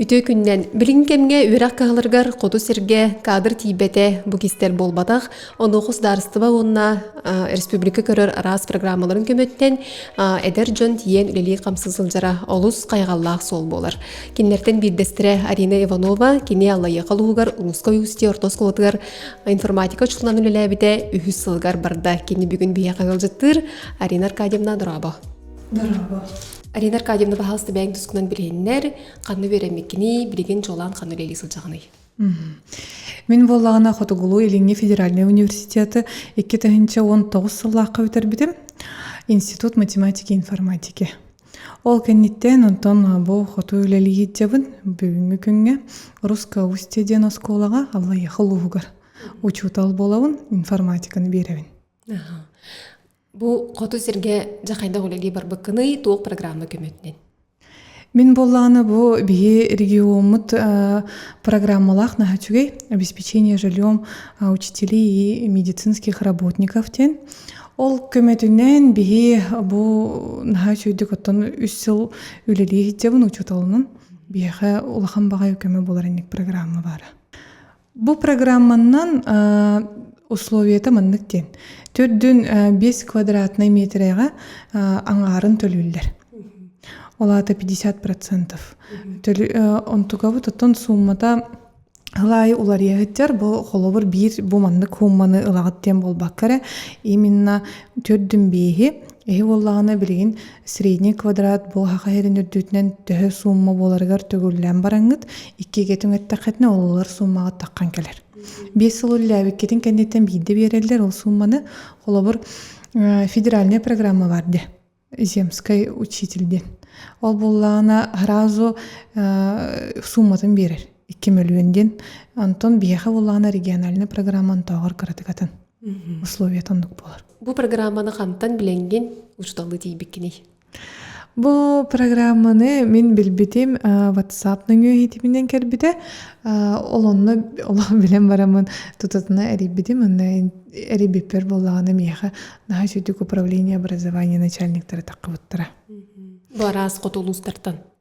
Үтүө күннэн! Билигин кэмҥэ үөрэх кыһаларыгар хоту сиргэ кадр тиийбэтэ бу кистэр буолбатах. Онуоха судаарыстыба уонна республика көрөр араас программаларын көмөттөн эдэр дьон тиийэн үлэлии-хамсы сылдьара олус хайҕаллаах суол буолар. Кинилэртэн биирдэстэрэ Арина Иванова кини Аллайыаха улууһугар Улуска Усть орто оскуолатыгар информатика учууталынан үлэлээбитэ үһүс сылыгар барда. Кини бүгүн биһиэхэ ыалдьыттыыр Арина Аркадьевна Дорообо. Дорого. Арина Аркадьевна, пожалуйста, бэйэҥ тускунан билиһиннэр, ханна үөрэммиккиний, билигин дьолоон ханна үлэлии сылдьаҕыный? Мин буоллаҕына Хотугулуу Илиҥҥи федеральнай университеты икки тыһыынча уон тоҕус сыллаахха бүтэрбитим. Институт математики и информатики. Ол кэнниттэн онтон бу хоту үлэлии сылдьабын. Бүгүҥҥү күҥҥэ Русская Устье диэн оскуолаҕа Аллайаха улууһугар учуутал буолабын, информатиканы биэрэбин. Бу хоту сиргэ дьэ хайдах үлэлии барбыккыный, туох программа көмөтүнэн? Мин буоллааны бу биһи региоммут э, программалаах наха үчүгэй обеспечение жильем э, учителей и медицинских работников ден. Ол көмөтүнэн биһи бу наха үчүйдүк оттон үс сыл үлэлии хитчебун учуталынын биһиэхэ улахан баҕай көмө болар инник программа бара. Бу программаннан условията маннык диэн. Төрдүн бес квадратнай метрega аңаарын төлүүллэр. Олата 50%. Онтукабыт оттон сууммата Ылай уларыйыһыттар бу холобур биир бу маннык хуумманы ылаҕыт диэн буолбакка эрэ именно төрдүн биэһи эһи буоллаҕына билигин средний квадрат буоһах аһерин үрдүүтүнэн төһө сумма буоларыгар төгүллээн бараҥҥыт иккигэ түҥэттэххитинэ ололор суумаҕа таххан кэлэр биэс сыл үллээбиккитин кэнниттэн биирдэ биэрэллэр ол суумманы холобур федеральная программа бар де земскай учитель диэн ол буоллаҕына сразу суумматын биэрэр икки мөлүйүөн диэн Антон биһиэхэ буллаҕына региональнай программа онтооҕор кыратык атын условият оннук буолар бу программаны хантан билэҥҥин учууталлыы тиийбиккиний Бу программаны мин билбитим WhatsApp нөҥүө иһитиминэн кэлбитэ ол онно олоҕун билэн барамын тутатына эрийбитим онно эрийбиппэр буоллаҕына миэхэ наһаа үчүгдүк управление образования начальниктара таххыбыттара бу араас хоту улуустартан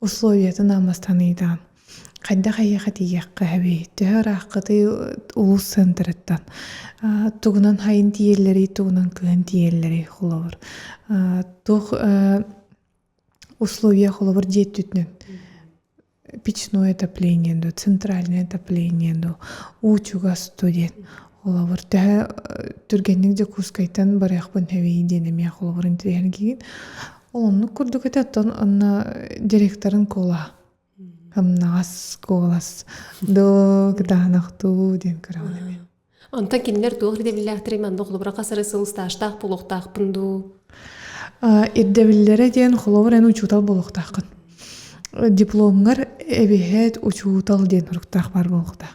Условиятын албастаныытаан хайдах эйиэхэ тиийиэххэ эбий төһө ырааххытый улуус центрыттан тугунан хайын тиийэллэрий тугунан кыһын тиийэллэрий холобур туох условия холобур дьиэ өттүтүнэн печное отопление дуо центральное отопление дуо уу чугас дуу диэн холобур төһө түргэнник дьокуускайтан барыахпын эбий диэн эмиэ холобур интириэһиргиигин Ол оннук курдук этэ оттон онно директорын куола амнаҕас куолас до кытаанахтуу диэн көрөҕүн эбит онтон кинилэр туох ирдэбиллээхтэрий манна холобура хасары сыл стажтаах буолуохтаахпын дуу ирдэбиллэрэ диэн холобур эн учуутал буолуохтааххын дипломҥар эбиһэт учуутал диэн туруктаах баар буолуохтаах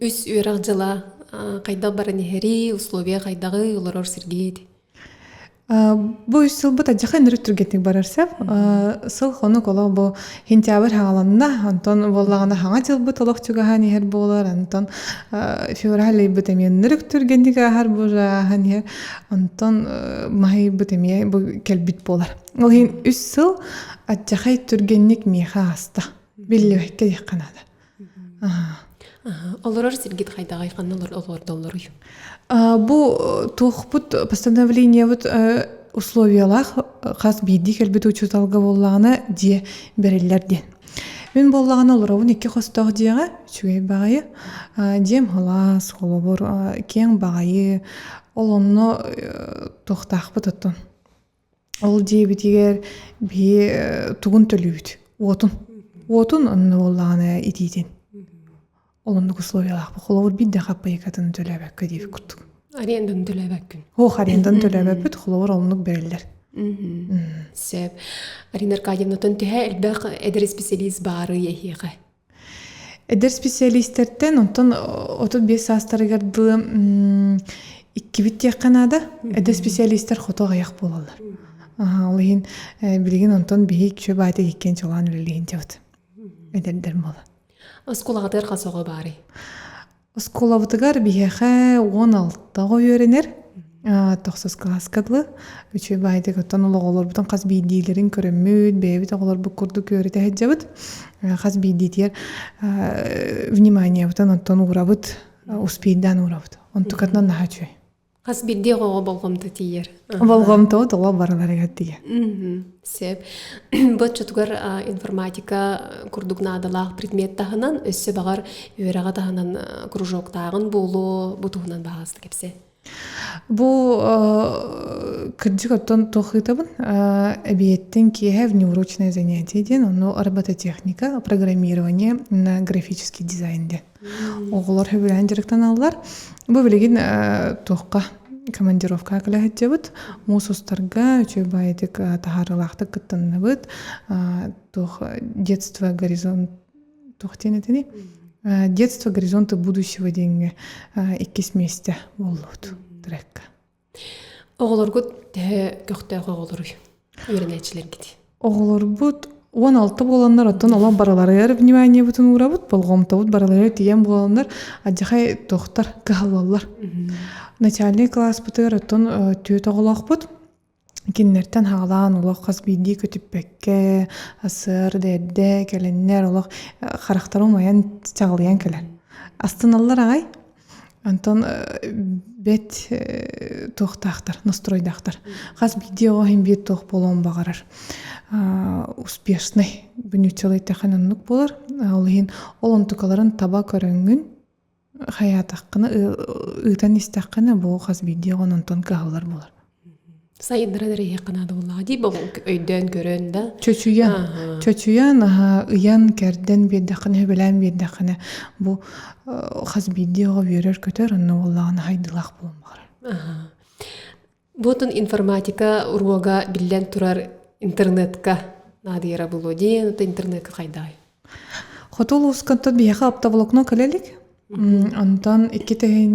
үс үөрэх дьыла хайдах баран иһэрий условия хайдаҕый олорор сиргит бу үс сылбыт адьаха ыныры түргэтик барарса сыл хонук олох бу хинтябрь хааланна антон буоллаҕына хаҥа дьылбыт олох чугаһаан иһэр буолар антон февраль ыйбыт эмиэ ынырык түргэнник ааһар бужааһан иһэр антон маһыйбыт эмиэ бу кэлбит буолар ол иһин үс сыл адьахай түргэнник миэхэ ааста биллибэккэ диэххэ наада Олорор сиргит хайдаҕай ханна олордоллоруй? Бу туохпут постановлениебут условиялаах хас биирдии кэлбит учууталга буоллаҕына дьиэ бэриллэр диэн. Мин буоллаҕына олоробун икки хостоох дьиэҕэ үчүгэй баҕайы. Дьиэм халас, холобур киэҥ баҕайы ол онно туохтаахпыт оттон Ол диэбитигэр биһи тугун төлүүбүт? Уотун. Уотун онно буоллаҕына итиитин. Оннук условиялаахпыт. Холобур биирдэ хаппайыкатын төлөөбөккө диэбит курдук. Аренданы төлөөбөккүн. Ох аренданы төлөөбөппүт. Холобур оннук бэриллэр. Сөп. Арина Аркадьевнаттан түһэ элбэх эдэр специалист баарый эһиэхэ. Эдэр специалистэртэн онтон отут биэс саастарыгар дылы иккибит диэххэ наада эдэр специалистар хото аҕыйах буолаллар ол иһин билигин онтон биһи чө баата иккиэн чолоон үлэлиһин дьабыт эдэрдэр буола оскуолаҕытыгар хас оҕо баарый Оскуолабытыгар биһиэхэ уон алта оҕо үөрэнэр. Тохсус кылааска дылы. Үчүгэй баайдык, оттон ол оҕолорбутун хас биирдиилэрин көрөммүт, бэйэбит оҕолорбут курдук үөрэтэ сылдьабыт. Хас биирдиитигэр вниманиебытын оттон уурабыт, успейдаан уурабыт. Онтукатынан наһаа үчүгэй. хас биирдии оҕоҕо болҕомто тиийэр болҕомтоҕут оҕо барыларыгар тиийэ сэп бу оччотугар информатика курдук наадалаах предмет таһынан өссө баҕар үөрэҕэ таһынан кружоктааҕын буолуо бу туһунан баҕаста кэпсээ бу кырдьык оттон туох ыытабын эбиэттин киэһэ внеурочное занятие диэн ону робототехника программирование на графический дизайн диэн оҕолор хөбүлэһэн дьарыктаналлар бу билигин туохха командировка кылаһаччыбыт муус устарга үчүгэй баайытык таһаарылаахтык кыттанныбыт туох детство горизонт туох диэн этини детство горизонты будущего диэҥҥэ иккис миэстэ буоллубут трекка Оҕолоргут төһө көхтөөх оҕолоруй үөрэнээччилэргит? Оҕолорбут уон алта буоланнар оттон олох барыларыгар вниманиебытын уурабыт болҕомтобут барыларыгар тиийэн буоланнар адьахай туохтар кыһаллаллар начальнай кылааспытыгар оттон түөрт оҕолоохпут кинилэртэн хаалаан олох хас биирдии көтүппэккэ сыр дээрдэ кэлэннэр олох харахтара умайан чаҕылыйан кэлэр астыналлар аҕай Онтон бэт туохтаахтар настройдаахтар хас биирдии оҕо иһин биир туох буолуон баҕарар успешный бүнүү целый тэхэн оннук болар ол иһин ол онтукаларын таба көрөҥҥүн хайаатаххына ыытан истэххинэ бу хас биирдии оҕону онтон кыһаллар буолар сайдара эрэһиэххэ наада буоллаҕа дии өйдөөн көрөн да чочуйан чочуйан аһа ыйан кэрдэн биэрдэххинэ сөбүлээн биэрдэххинэ бу хас биирдии оҕо үөрэр көтөр онно буоллаҕына хайдылаах буолбаҕар бу отун информатика уруога биллэн турар интернетка наадыйара булуо диэн оту интернетка хайдаҕай хоту улууска биһиэхэ аптаволокно кэлэлик онтон икки тэһин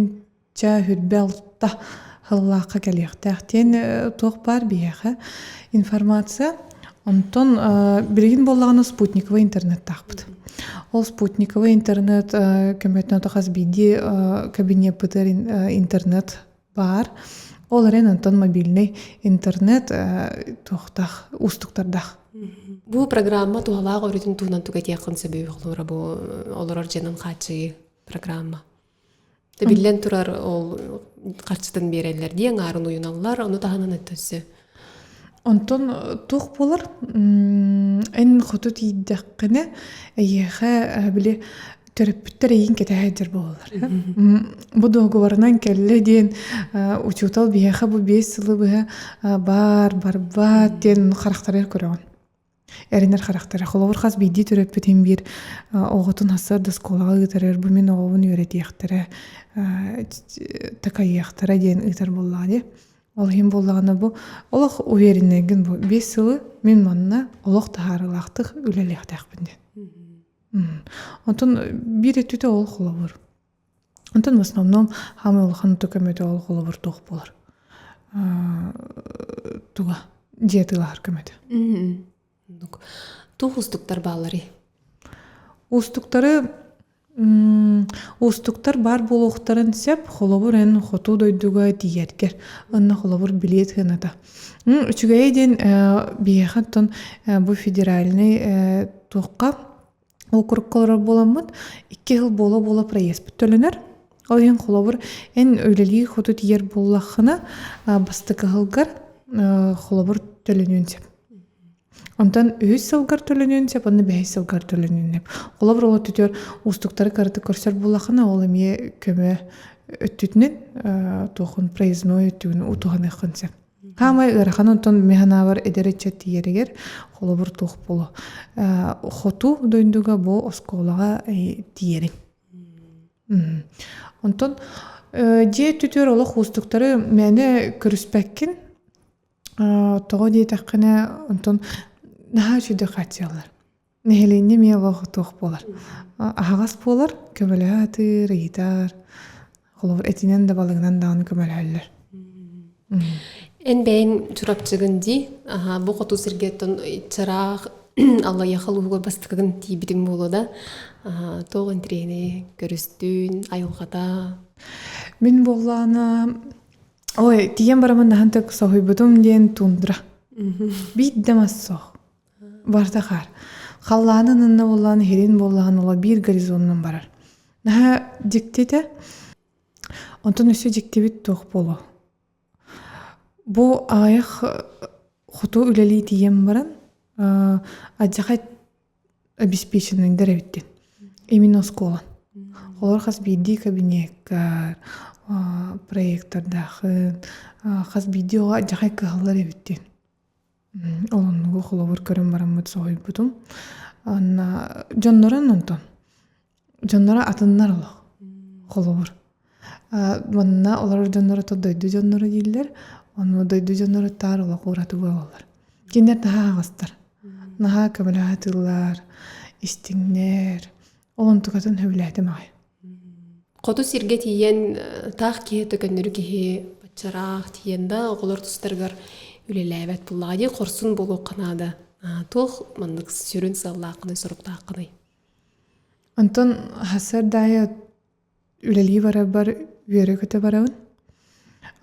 Ча хүрбэ алтта хыллаахха кэлиэхтээх диэн туох баар биһиэхэ информация. Онтон билигин буоллаҕына спутниковый интернеттаахпыт. Ол спутниковый интернет көмөтүнэн хас биирдии кабинеппытыгар интернет баар. Ол эрэн онтон мобильнай интернет туохтаах уустуктардаах. Бу программа туһалаах өрүтүн туһунан тугатиэххин сөбүй олорор дьонун хааччыйыы программа? Тибиллэн турар ол харчытын биэрэллэр дии аҥаарын уйуналлар, ону таһынан өттө өссө. Онтон туох буолар? Эн хоту тиийдэххинэ эйиэхэ били төрөппүттэр эйигин кэтэһэ сылдьар буолаллар. Бу договорунан кэллэ диэн учуутал биһиэхэ бу биэс сылы быһа баар барбат диэн харахтарыгар көрөҕүн. эрэнэр харахтара холобур хас биирдии төрөппүтүн биир оҕотун сарда оскуолаҕа ыытарыар бу мин оҕобун үөрэтиэхтэрэ такайыахтара диэн ыытар буоллаҕа дии ол иһин буоллаҕына бу олох уверенныгын бу биэс сылы мин манна олох таһаарылаахтык үлэлиэхтээхпин диэн оттон биир өттүтэ ол холобур Онтон в основном хаамай улахан оту көмөтө ол холобур туох буолар туга дьиэ тыылаһар көмөтө туох уустуктар баалларый уустуктары уустуктар баар буолуохтарын сөп холобур эн хоту дойдуга тиийэргэр онно холобур билиэт сыаната үчүгэйи диэн биһиэхэ оттон бу федеральнай туохха округка олорор буоламмыт икки сыл буола-буола проезпыт төлөнөр ол иһин холобур эн үлэлии хоту тиийэр буоллаххына бастакы сылгар холобур төлөнүөн сөп онтон үһүс сылгар төлөнүөн сөп онно бэһис сылгар төлөнүөн сөп холобур ол өттүтүгэр уустуктары кыратык көрсөр буоллаххына ол эмиэ көмө өттүтүнэн туохун проездной өттүгүн утуһаныаххын сөп хаамай ыарахан онтон ми санаабар эдэр ыччат тиийэригэр холобур туох буолуо хоту дойдуга бу оскуолаҕа тиийэрин онтон дьиэ түтүөр олох уустуктары мээнэ көрүспэккин тоҕо диэтэххинэ онтон наһаа үчүгэй хааччыйаллар нэһилиэнньэ эмиэ олох туох буолар аһаҕас буолар көмөлөһө атыыр ыйытар холобур этинэн да балыгынан даҕаны көмөлөһөллөр эн бэйэҥ чурапчыгын дии бу хоту сиргиттэн чараах аллайаха улууһугар бастакыгын тиийбитиҥ буолуо да туох интириэһинэй көрүстүн айылҕата мин буоллаана ой тиийэн барамын наһан так соһуйбутум диэн тундра биир да мас суох барыта хаар халлаанын ынна буоллаҕына иһирин буоллаҕына оло биир горизонунан барар наһаа дьикти этэ онтон өссө дьиктибит туох буолуо бу аҕыйах хоту үлэлии тиийэн баран адьахай обеспеченныйдар эбит диэн именно оскуола олор хас биирдии кабинеккар проектордаахын хас биирдии оҕо адьахай кыһаллар эбит диэн Олуннугу холобур көрөн бараммыт соһуйбутум. Онно дьоннорун онтон. Дьонноро атыннар олох. Холобур. манна олорор дьонноро то дойду дьонноро дииллэр. Ону дойду дьонноро таар олох уратыга боллор. Кинилэр наһаа аҕыстар. Наһаа көмөлөһө атыыллар, истиҥнэр. Ол онтукатын сөбүлээтим аҕай. хоту сиргэ тиийэн таах киһи төкөннөрү киһи баччараах тиийэн да оҕолор тустарыгар үлэлээбэт буоллаҕа дии хорсун буолуохха наада туох маннык сүрүн сыаллааххыный соруктааххыный онтон сардаайа үлэлии барарбар үөрэ көтө барабын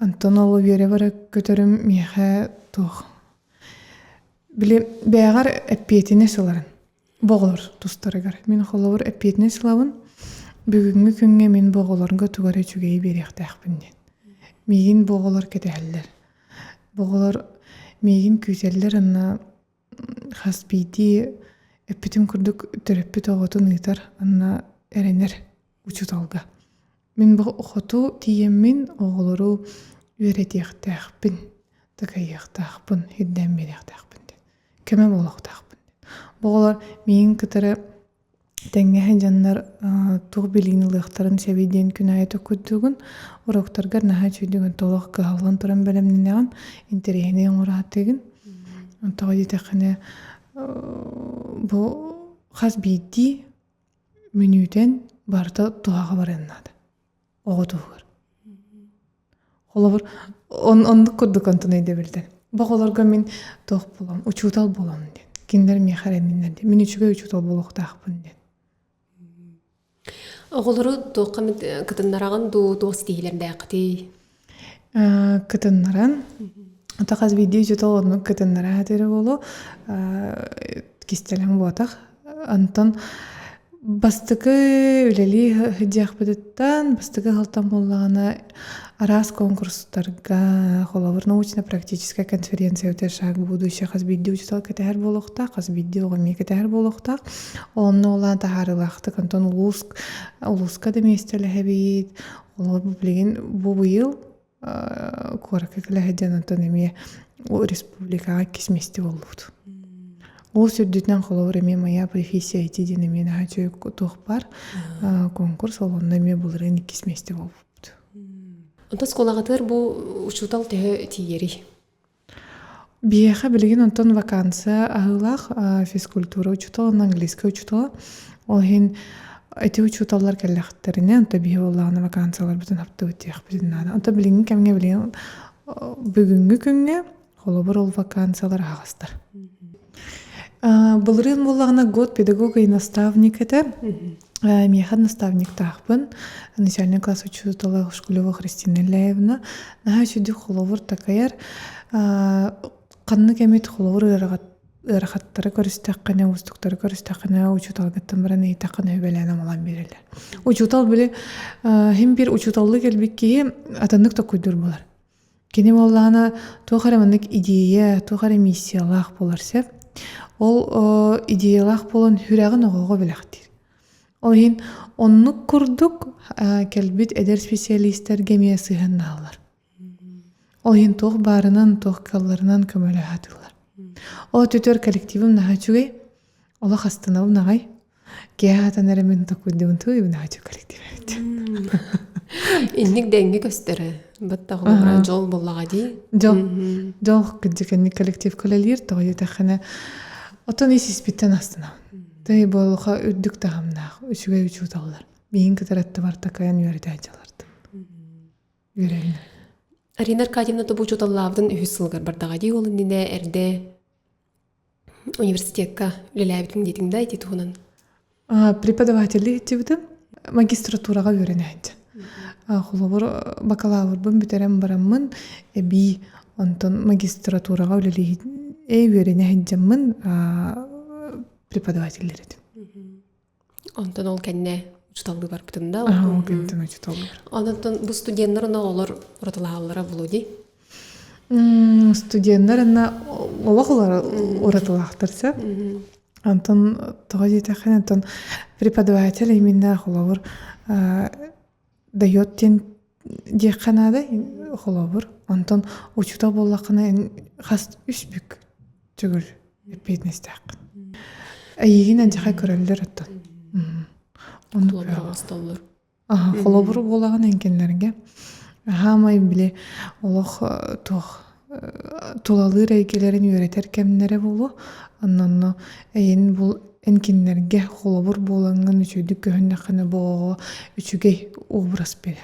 онтон ол үөрэ бара көтөрүм миэхэ туох били бэйэҕэр эппиэтинэс ыларын Боҕоор тустарыгар, мин холобур эппиэтинэс ылабын, бүгүҥҥү күҥҥэ мин бу оҕолорго тугу эрэ үчүгэйи биэриэхтээхпин диэн. Миигин бу оҕолор кэтэһэллэр. Бу оҕолор миигин күүтэллэр уонна хас биирдии эппитим курдук төрөппүт оҕотун ыытар уонна эрэнэр. учууталга мин бу хоту тиийэммин оҕолору үөрэтиэхтээхпин такайыахтаахпын ирдээн биэриэхтээхпин диэн көмө буолуохтаахпын диэн оҕолор миин кытары тэҥҥэ сыдьаннар туох билиини ылыахтарын сөбүй диэн күн аайы токуйдугун уроктаргар наһаа үчүгэйдик толох кыһаллан туран бэлэмнэнэҕин интэриэһинэй оҥораатыгын тоҕо диэтэххинэ бу хас биирдии мүнүүтэн барыта туһаҕа барыан наада оҕо туһугар холобур оннук курдук онтон өйдөбүлтэн боҕолорго мин туох буолам учуутал буолам диэн кинилэр миэхэ эрэнниннэр диэн мин үчүгэй учуутал буолуохтаахпын диэн оҕолору туохха эмит кытыннараҕын дуу туох ситиһиилэрдээххитий кытыннаран ата хас биирдии учуутал оннук кытыннараа атыыры буолуу кистэлэҥ буотах онтон бастакы үлэлии сылдьыахпытыттан бастакы сылтан буоллаҕына араас конкурстарга холобур научно практическая конференция өтөр шаг будущее хас биирдии учуутал кэтэһэр буолуохтаах хас биирдии оҕо эмиэ кэтэһэр буолуохтаах онно улаан таһаарыылаахтык онтон улуус улууска да миэстэлэһэбит Ол билигин бу быйыл куоракка кэлэһэддиэн онтон эмиэ республикаҕа иккис миэстэ буолбут. Ол сүрдүтүнэн холобур эмиэ моя профессия эти диэн эмиэ наһаа үчүгэй туох баар конкурс ол онно эмиэ былырыын иккис миэстэ буолбут. Онтон оскуолаҕытыгар бу учуутал төһө тиийэрий? Биһиэхэ билигин онтон вакансия аһыылаах физкультура учуутала уонна английскай учуутала. Ол иһин ити учууталлар кэллэхтэринэ онто биһи буоллаҕына вакансияларбытын хаптыбыт диэхпитин наада. Онто билиҥҥи кэмҥэ билигин бүгүҥҥү күҥҥэ холобур ол вакансиялар аһаҕастар. Былырыын буоллаҕына год педагог и наставник этэ. миэхэ наставниктаахпын начальнай класс учуутала Шкулева Христина Ляевна наһаа үчүгдүк холобур такайар ханнык эмит холобур ыарахаттары көрүстэххинэ уустуктары көрүстэххинэ учууталгыттан баран ыйытаххына сүбэлээн амалан биэрэлэр учуутал били син биир учууталлыы кэлбит киһи атыннык токуйдуур буолар Кини буоллаҕына туох эрэ маннык идея, туох эрэ миссиялаах буолар сөп. Ол идеялаах буолан сүрэҕин оҕоҕо бэлэхтиир. Ол иһин оннук курдук кэлбит эдэр специалистэргэ эмиэ сыһыаннаһаллар. Ол иһин туох баарынан, туох кыалларынан көмөлөһө атыыллар. Ол көтөр коллективым наһаа үчүгэй. Олох астынабын аҕай. Киэһээтэн эрэ мин такуйдубун тыыбын аачу коллективэт инник дэҥҥэ көстөрө баттаҕылара дьол буоллаҕа дии дьол дьол кырдьыкэнник коллектив көлөлүүр тоҕо диэтэххинэ отон ис испиттэн астына тыый буолуха үрдүк таһымнаах үчүгэй учууталлар миин кытараттыбар такайан үөрэтэ дьалардым үөрэллэр арина аркадьевна тобу учууталлаабытын үһүс сылыгар бардаҕа дии ол иннинэ эрдэ университекка үлэлээбитим диэтиҥ да ити туһунан преподавателлии иччибитим магистратураҕа үөрэнээт холобур бакалаврбын бүтэрэн бараммын эбии онтон магистратураҕа үлэлии үөрэнэ сылдьаммын преподавателлэр этим Онтон ол кэннэ учуталлыы барбытым да. Аһа, ол кэннэ учуталлар. Онтон бу студеннар ону оҕолор уратылаһаллара Володей. Студеннар ына олох олар уратылаахтар сеп. Онтон тоҕо диэтэххинэ, онтон преподаватель иминнээх олоҕур дает диэн диэххэ наада холобур онтон учуутал буоллаххына хас үс бүк төгүл эппиэтинэстээххин эйигин эндьэхэ көрөллөр оттон холобур аха холобур буолаҕын эҥкиннэргэ хаамай били олох туох тулалыыр эйгэлэрин үөрэтэр кэмнэрэ буолуо онно эйин бу эн кинилэргэ холобур буолаҥҥын үчүгэйдик көһүннэххинэ боо үчүгэй образ бэрэ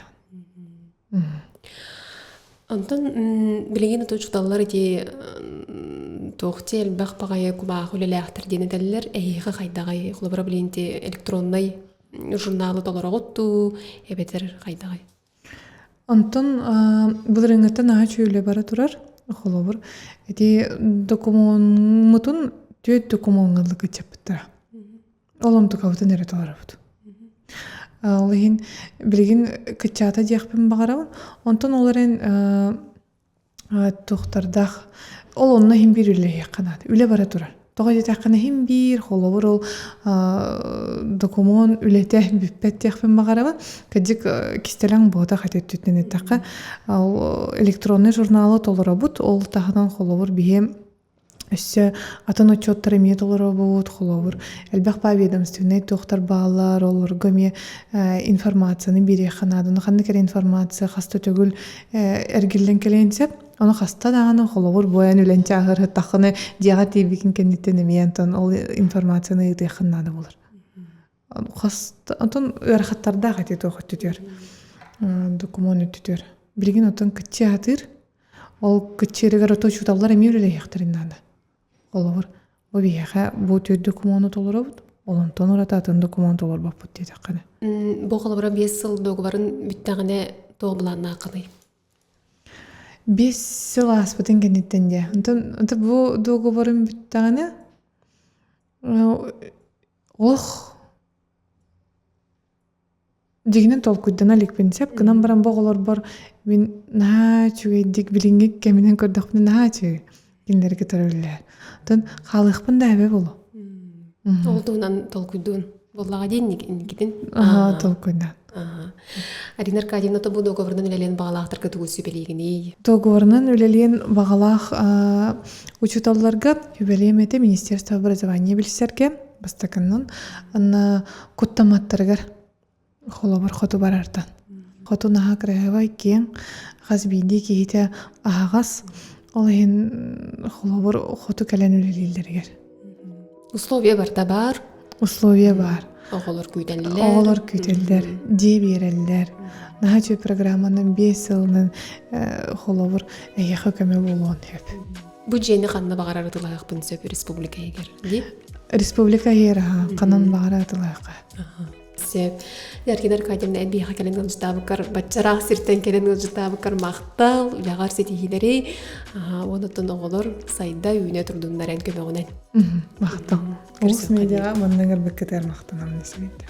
Онтон билигин ото учууталлар ити туохти элбэх баҕайы кубаах үлэлээхтэр диэн этэллэр эһиэхэ хайдаҕай холобура билигин ити электроннай журналы толороҕут дуу эбэтэр хайдаҕай Онтон былырыыҥҥыттан наһаа үчүгэй бара турар холобур ити докумуоммутун түөрт докумуоҥҥа ылы кыччаппыттара ол онтукабытын эрэ толоробут ол иһин билигин кыччаата диэхпин баҕарабын онтон ол эрэн Туохтардаах ол онно иһин биир үлэлэһиэххэ наада. Үлэ бара турар. Тоҕо диэтэххинэ иһин биир холобур ол докумуон үлэтэ бүппэт диэхпин баҕарабын. Кырдьык кистэлэҥ буотах ити өттүттэн эттэххэ ол электроннай журналы толоробут. Ол таһынан холобур биһиэм Өссө атын отчуоттар эмиэ толоробут, холобур, элбэх поведомственнай туохтар бааллар, олорго эмиэ информацияны биэриэххэ наада. Ону ханнык эрэ информация хаста төгүл эргиллэн кэлиэн сөп. Ону хаста даҕаны, холобур, бу айан үлэн чааһыртаххына дьиэҕэ тиийбиккин кэнниттэн эмиэ онтон ол информацияны ыытыаххын наада буолар. Оттон ыарахаттардаах этии туох өттүтүгэр докумуон өттүтүгэр билигин оттон кыччыы аһатыыр ол кыччыырыгар оттон учууталлар эмиэ үлэлэһиэхтэрин наада холобур бу биһиэхэ бу төрүт докумуону толоробут ол онтон ураты атын докумуон толорбоппут диэтэххинэ бу холобура биэс сыл дуогабарын бүттэҕинэ туох былааннааххыный биэс сыл ааспытын кэнниттэн дии онтон бу дуогабарын бүттэҕинэ Ох дьиҥинэн толкуйдана иликпин сөп гынан баран бу оҕолорбор мин наһаа үчүгэйдик билиҥҥи кэминэн көрдөхпүнэ наһаа үчүгэй кинилэри кытары үлэлэһэр оттон хаалыахпын да эбэ буолуо тоҕо туһунан толкуйдуун буоллаҕа дии инникитин аһа толкуйдаан Арина Аркадьевна тобу договорунан үлэлиэн баҕалаахтарга тугу сүбэлиигиний? Договорунан үлэлиэн баҕалаах учууталларга үбэлиэм этэ Министерство образования билсэргэ бастакыннан анна куттаматтарыгар холобур хоту барартан хоту наһа кыраһыбай киэң хас биирдии киһитэ аһаҕас ол иһин холобур хоту кэлэн үлэлииллэригэр Условия барта бар. Условия бар. Оҕолор күүтэллэр. Оҕолор күүтэллэр, дии биэрэллэр. Наһаа үчүгэй программанан биэс сылынан э, холобур эйиэхэ көмө буолуон сөп. Бу дьиэни ханна баҕарар ытылаһыахпын сөп республика иһигэр. Республика иһигэр хаһан баҕара ытылаһыахха. Сеп. Эргин Аркадьевна эн биһиэхэ кэлэн ыалдьытаабыккар баччараах сиртэн кэлэн ыалдьытаабыккар махтал, үлэҕэр ситиһиилэри. Аһаа, уон оттон оҕолор сайда үүнэ турдуннар эн көмөҕүнэн. Махтал. Орус медиаҕа маннык арбыккытыгар махтанамын сигиттим.